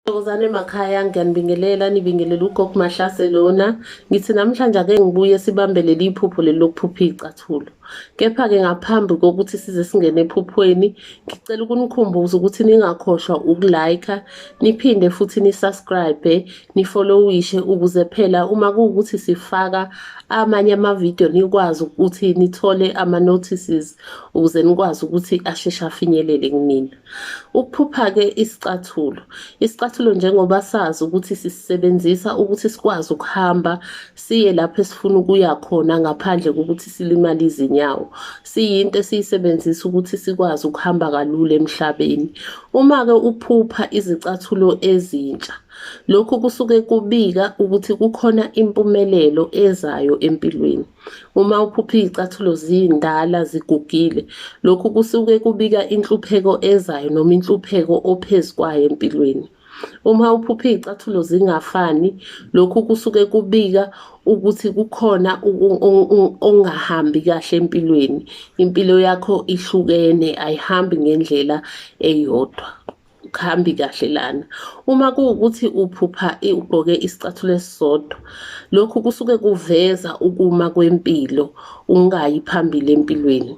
Thokozane makhaya ngiyanibingelela nibingelela ugogo Mahlase lona ngithi namhlanje ake ngibuye sibambe leli iphupho leli lokuphupha icathulo kepha ke ngaphambi kokuthi size singene ephuphweni ngicela ukunikhumbuza ukuthi ningakhohlwa ukulike niphinde futhi nisubscribe nifollowishe ukuze phela uma kuwukuthi sifaka amanye amavidiyo nikwazi ukuthi nithole ama notices ukuze nikwazi ukuthi asheshe afinyelele kunina Ukuphupha-ke isicathulo. Isicathulo njengoba sazi ukuthi sisisebenzisa ukuthi sikwazi ukuhamba siye lapho esifuna ukuya khona ngaphandle kokuthi silimale izinyawo. Siyinto esiyisebenzisa ukuthi sikwazi ukuhamba kalula emhlabeni. Uma-ke uphupha izicathulo ezintsha, lokhu kusuke kubika ukuthi kukhona impumelelo ezayo empilweni. Uma uphupha izicathulo zindala zigugile, lokhu kusuke kubika inhlupheko ezayo noma inhlupheko ophezu kwayo empilweni. Uma uphupha izicathulo zingafani, lokhu kusuke kubika ukuthi kukhona ongahambi kahle empilweni. Impilo yakho ihlukene ayihambi ngendlela eyodwa. kuhambi kahle lana uma kuwukuthi uphupha ugqoke isicathulo esisodwa lokhu kusuke kuveza ukuma kwempilo ungayi phambili empilweni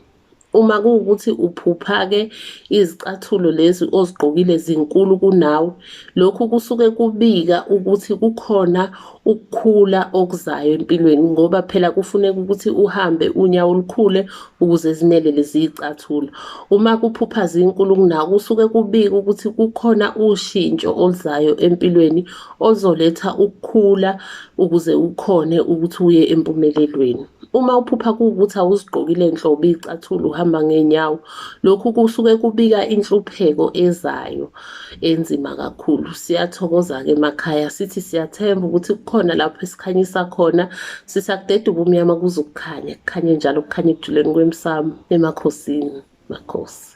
uma kuwukuthi uphupha-ke izicathulo lezi ozigqokile zinkulu kunawe lokhu kusuke kubika ukuthi kukhona ukukhula okuzayo empilweni ngoba phela kufuneka ukuthi uhambe unyawo olukhule ukuze zimele lezi zicathula uma kuphupha zinkulu kunako kusuke kubika ukuthi kukhona ushintsho oluzayo empilweni ozoletha ukukhula ukuze ukhone ukuthi uye empumelelweni uma uphupha kuwukuthi awuzigqokile nhlobo iy'cathulo uhamba ngey'nyawo lokhu kusuke kubika inhlupheko ezayo. enzima kakhulu siyathokoza-ke emakhaya sithi siyathemba ukuthi kukhona lapho esikhanyisa khona sisakudeda ubumnyama kuze ukukhanya kukhanye njalo kukhanye ekujuleni kwemsamo emakhosini makhosi